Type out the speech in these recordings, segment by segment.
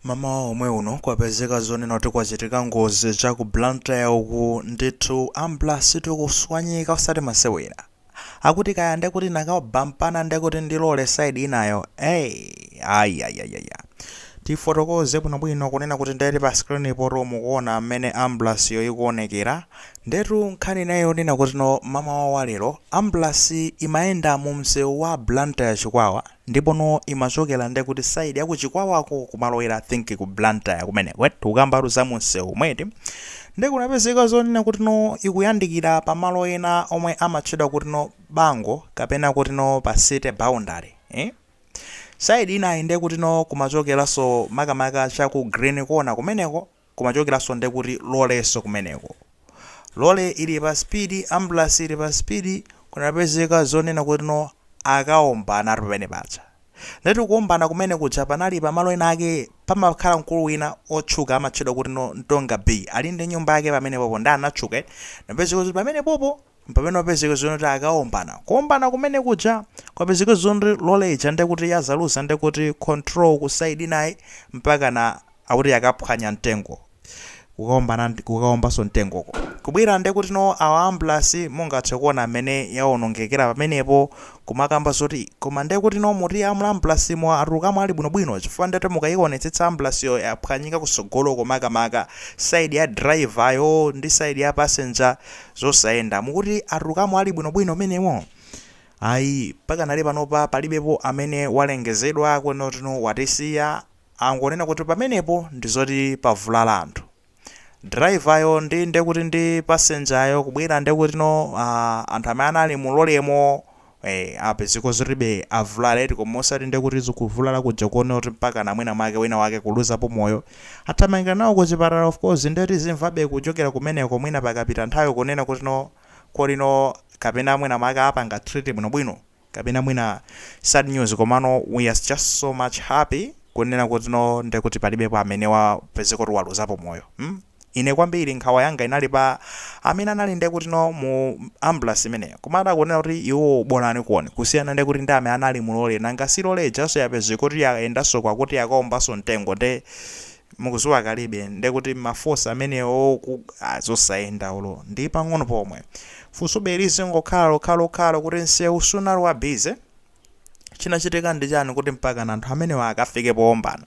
Mamawa omwe uno kwapezeka zonena kuti kwachitika ngozi cha ku Blantyre uku ndithu ambulasi tikuswanyika osati masewera. Akuti kaya nde kuti nakabampana nde kuti ndilole side inayo. Hey, ayayayaya. Tifotokoze bwinobwino kunena kuti ndeti pa screen pompo mukuona mmene ambulasiyo ikuonekera. Ndetu nkhani inayi yonena kutno mamawa wa lero ambulasi imayenda mu msewu wa Blantyre Chikwawa ndipono imachokera nde kuti side ya ku Chikwawako kumalowera I think ku Blantyre kumeneko eti tikukambatu za mu msewu momwe eti nde kunapezeka zonena kutno ikuyandikira pa malo ena omwe amatchedwa kutno Bango kapena kutno pa city boundary eh side inayi nde kutno kumachokeranso makamaka cha ku Green Corner kumeneko kumachokeranso nde kuti lolenso kumeneko lole ili pa speed ambulasi ili pa speed kunapezeka zonena kuti no akaombanatu pamene paja ndetu kuombana kumene kuja panali pamalo ena ake pamakhala mkulu wina otchuka amatchedwa kuti no ntonga b ali ndi nyumba yake pamene pompo nde anatchuka napezeka kuti pamene pompo mpamene wapezeka zonena kuti akaombana kuombana kumene kuja kwapezeka zonena kuti lole ija ndekuti yadzaluza ndekuti control ku side inayi mpakana akuti yakaphwanya mtengo kukaombanso mtengoko kubwera ndekuti no awa ambulasi mungathe kuona mmene yaonongekera pamenepo kumakamba zoti koma ndekuti no muti a mu ambulasimo atulukamo ali bwinobwino chifukwa ndetu mukayionetsetsa ambulasiyo yaphwanyika kusogoloko makamaka saidi ya drivayo ndi saidi ya passenger zosayenda. Mukuti atulukamo ali bwinobwino mmenemo? Ayi, pakanali panopa palibepo amene walengezedwa kunena kutno watisiya angonena kuti pamenepo ndi zoti pavulala anthu. Driver yo ndi ndekuti ndi passenger yo kubwera ndekutino aah anthu amene anali mu lolemo Eeh apezeka zoti iribe avulala eti koma osati ndekuti kuvulala kuja konena kuti mpakana mwina mwake wina wake kuluzapo moyo athamangira nawo kuchipatala of course nde tizimvabe kuchokera kumeneko mwina pakapita nthawi kunena kuti no kodi no kapena mwina mwake apanga treat bwino bwino kapena mwina sad news komano we are just so much happy kunena kuti no ndekuti palibepo amene wapezeka kuti waluzapo moyo mm Ine kwambiri nkhawa yanga inali pa amene anali nde kuti no mu ambulasi imeneyo. Koma da kunena kuti iwowo bolaniko kusiyana nde kuti ndi amene anali mu lole. Nanga si lole ijanso yapezeka kuti ya yendanso kwakuti yakaombanso mtengo nde mukuziwa kalibe nde kuti ma force amenewo ku ah zosayenda olo ndi pang'ono pomwe. Funsobe lizingokhala lokhalokhalo kuti nseu sunali wa busy? Chinachitika ndi chani kuti mpakana anthu amenewa akafike poombana?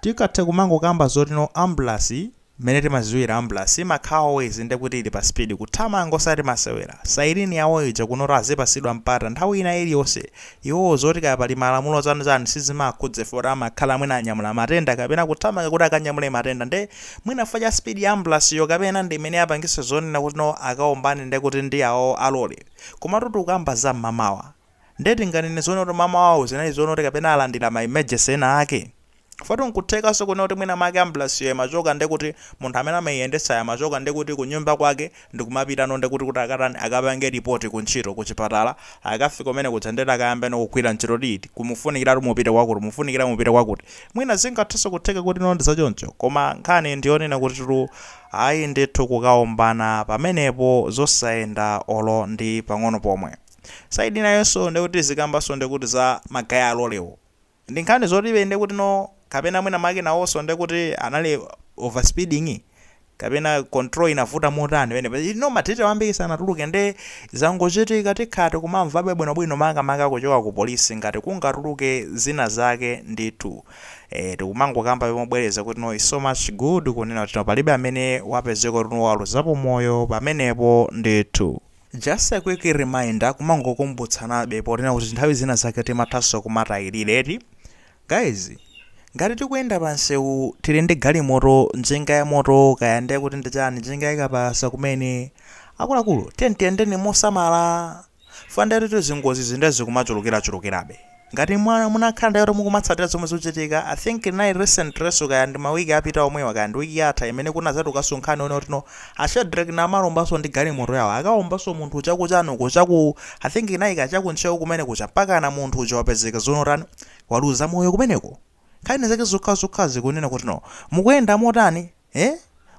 Tikathe kumangokamba zoti no ambulance mmene timaziwira ambulance imakhala always ndekuti ili pa speed kuthamanga osati masewera siren yawo ija kunotu azipasidwa mpata nthawi ina iliyonse iwowo zoti kaya pali malamulo chani chani sizimawakhudza fukwa amakhala mwina anyamula matenda kapena kuthamanga kuti akanyamule matenda nde mwina fukwa cha speed ya ambulance yo kapena ndi imene yapangisa zonena kuti no akaombane ndekuti ndi awowo a lorry komatu tikukamba za mmamawa Nde tinganene zonena kuti mamawawo zinali zonena kuti kapena alandira ma emergency ena ake? Chifukwa nkuthekanso kunena kuti mwina mwake ambulance yo imachoka ndekuti munthu amene amaiyendetsayo amachoka ndekuti kunyumba kwake ndikumapitano ndekuti kuti akatani akapange report ku ntchito ku chipatala akafika kumene kuja ndekuti akayambeno kugwira ntchito kuti iti kuti mufunikiratu mupite kwakuti mufunikira mupite kwakuti mwina zingathenso kutheka kuti no ndi zachoncho koma nkhani ndi yonena kutitu ayi ndithu kukaombana pamenepo zosayenda olo ndi pang'ono pomwe. side inayonso ndekuti tizikambanso ndekuti za ma guy a lorry wo ndi nkhani zotibe ndekuti no kapena mwina mwake nawonso ndekuti anali over speeding kapena control inavuta motani penapake you know ma detail ambiri sanatuluke nde zangochitika tikhala tikumamvabe bwinobwino makamaka kuchoka ku police ngati kungatuluke zina zake ndithu eh, tikumangokambabe mobwereza kuti no is so much good kunena kuti no palibe amene wapezeka kuti no waluzapo moyo pamenepo ndithu Just a quick reminder kumangokumbutsanabe ponena kuti nthawi zina zake timathanso kumatayilira eti. Guys, ngati tikuyenda pa msewu tili ndi galimoto, njinga ya moto, kaya ndiye kuti ndi chani, njinga yakapalasa kumene, akuluakulu tiyeni tiyendeni mosamala. Chifukwa ndiye kuti zingozizi ndiye zikumachulukirachulukirabe. Ngati munakhala ndinu woti mukumatsatira zomwe zikuchitika, I think inali recentlyso kaya ndi ma week apita omwewa kaya ndi week yatha imene kunazatulukaso nkhani yonena kuti no a Shadreck Namalombaso ndi galimoto yawo akawombaso munthu uja kuchani uko chaku I think inali kaya chaku Ntcheu kumene kuja mpakana munthu uja wapezeka zoona watani waluza moyo kumeneko. Nkhani zake zokhazokhazi kunena kuti no mukuyenda motani? Eh?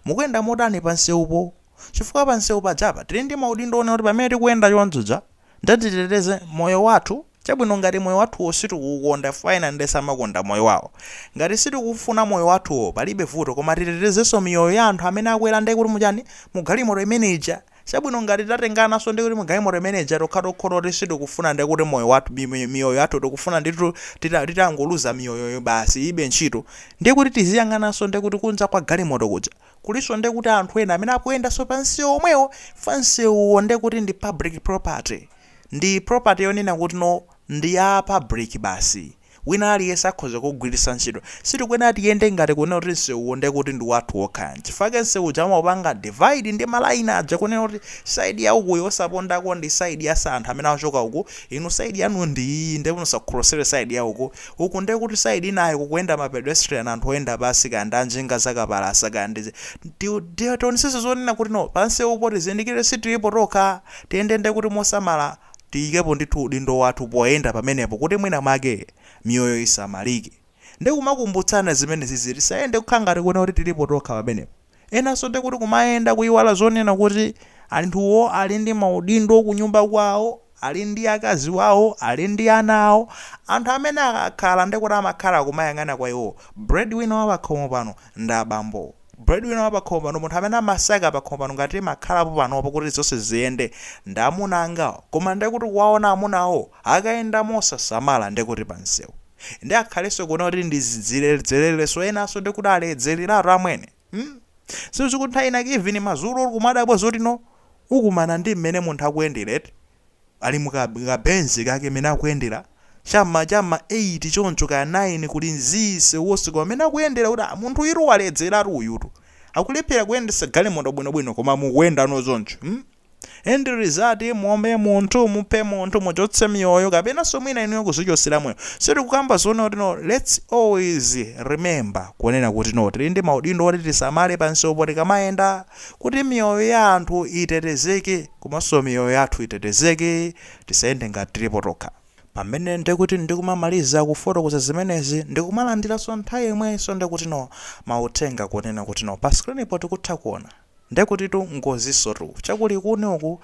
Mukuyenda motani pa nsewupo? Chifukwa pa nsewu pajapa tili ndi maudindo onena kuti pamene tikuyenda chonchija nde titeteze moyo wathu. Chabwino ngati moyo wathuwo sitikuwukonda chifukwa ena nde samakonda moyo wawo. Ngati sitikuwufuna moyo wathuwo palibe vuto koma titetezenso miyoyo ya anthu amene akwera nde kuti muchani? Mugalimoto imene ija Chabwino ngati tatengananso ndi kuti mugalimoto imene ija tokhatokho toti sitikufuna ndiye kuti moyo wathu miyoyo yathu tikufuna ndithu tita titangoluza miyoyoyo basi ilibe ntchito ndiye kuti tiziyang'ananso ndiye kuti kunja kwa galimoto kuja kulinso ndiye kuti anthu ena amene akuyendanso pa msewu omwewo chifukwa msewuwo ndiye kuti ndi public property ndi property yonena kuti no ndi ya public basi Wina aliyense akhoza kuugwiritsa ntchito. Sitikuyenera tiyende ngati kunena kuti msewuwo ndiye kuti ndi wathu wokha. N'chifukwa chake msewu uja amaupanga divide ndi malaini aja kunena kuti side ya ukuyi yosapondako ndi side ya anthu amene akuchoka uku, inu side yanu ndi iyi ndiye musakhrosele side ya uku. Uku ndiye kuti side inayo kukuyenda ma pedestrian anthu oyenda pansi kaya ndi a njinga za kapalasa kaya ndi Tionetsetse zonena kuti no pa msewupo tizindikire sitiripo tokha, tiyende ndiye kuti mosamala. tiyikepo ndithu udindo wathu poyenda pamenepo kuti mwina mwake miyoyo isamalike nde kumakumbutsana zimenezizi tisayende kukhala ngati kuona kuti tilipo tokha pamenepo enanso nde kuti kumayenda kuiwala zonena kuti anthuwo ali ndi maudindo kunyumba kwawo ali ndi akazi wawo ali ndi ana awo anthu amene akakhala nde kuti amakhala kumayang'ana kwa iwowo breadwinner wa pakhomo pano ndi abambowo Breadwinner wa pakhomo pano, munthu amene amasaka pakhomo pano ngati timakhalapo panopo kuti zonse ziziyende, ndi amuna angawo. Koma ndiye kuti kuwaona amunawo akayenda mosasamala ndiye kuti pa msewu. Ndiye akhalenso kunena kuti ndi ziledzererenso enanso ndiye kuti aledzereratu amwene. Hmm? Si zikuti nthawi inake even madzulo kumadabwa zoti no ukumana ndi mmene munthu akuyendera eti. Ali mu ka, ka Benz kake mmene akuyendera, cha m'ma, cha m'ma 8 choncho, kaya 9, kuli zii, msewu wonse kwa mmene akuyendera, kuti ah, munthu'yutu waledzeratu uyutu, akulephera kuyendetsa galimoto bwino-bwino, koma mukuyenda nazo choncho, mm end result muombe munthu, muphe munthu, muchotse miyoyo, kapenanso mwina inuyo kuzichotsera moyo. So tikukamba zonena kuti no let's always remember kunena kuti no tili ndi maudindo oti tisamale pamsewupo tikamayenda, kuti miyoyo ya anthu itetezeke. komanso miyoyo yathu itetezeke, tisayende ngati tilipo tokha. Pamene ndekuti ndikumamaliza kufotokoza zimenezi ndikumalandiranso nthawi yomweyinso ndekuti no mauthenga kunena kuti no pa screen po tikutha kuona ndekutitu ngozinsotu chaku Likuni uku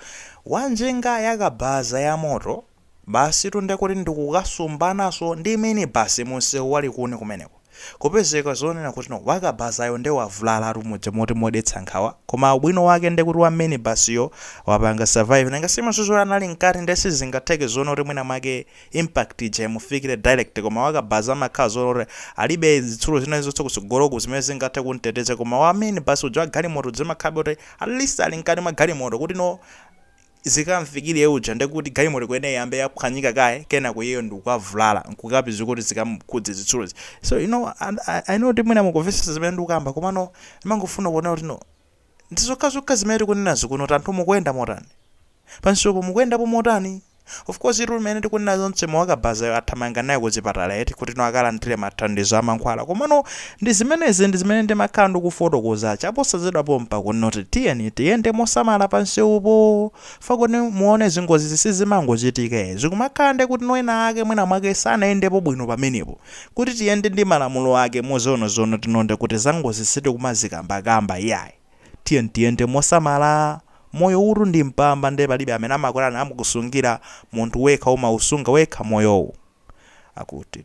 wanjinga yakabaza yamoto, Basitu nde kuti ndi kukasumbananso ndi minibus mu nsewu wa Likuni kumeneko. Kupezeka zonena kuti no wakabazayo nde wavulalatu muja moti modetsa nkhawa, koma ubwino wake nde kuti wa minibus yo wapanga survive nanga si mesa iyeyo anali mkati nde sizingatheke zonena kuti mwina mwake impact ija imufikire direct koma wakabaza amakhala zonena kuti alibe zitsulo zina zilizonse kutsogoloku zimene zingathe kumteteza koma wa minibus uja wa galimoto uja zimakhalabe kuti at least ali mkati mwa galimoto kuti no zikamfikire uja ndekuti galimoto ikuyenera iyambe yaphwanyika kaye kenako iyeyo ndikukavulala nkukapezeka kuti zikamukhudze zitsulozi so you know, I know kuti mwina mukumvetsa zimene ndikukamba komano ndimangofuna kunena kuti no ndi zokhazokha zimene tikunenazi kuti no anthu mukuyenda motani pamsewupo mukuyendapo motani of course mmene tikunena zonsezo wakabazayo athamanga naye kuchipatala eti kuti no akalandire mathandizo a mankhwala komano Ndi zimenezi ndi zimene ndimakhala ndikufotokoza chaposachedwa pompa kunoti tiyeni tiyende mosamala pa nsewupo fukwa kuti muone ngozizi sizimangochitika ee, zikumakhala nde kuti ena ake mwina mwake sanayendepo bwino pamenepo kuti tiyende ndi malamulo ake moonaona tino nde kuti zangozi sitikumazikambakamba iyayi tiyeni tiyende mosamala moyowutu ndi mpamba nde palibe amene amakusungira munthu wekha umausunga wekha moyowu akuti.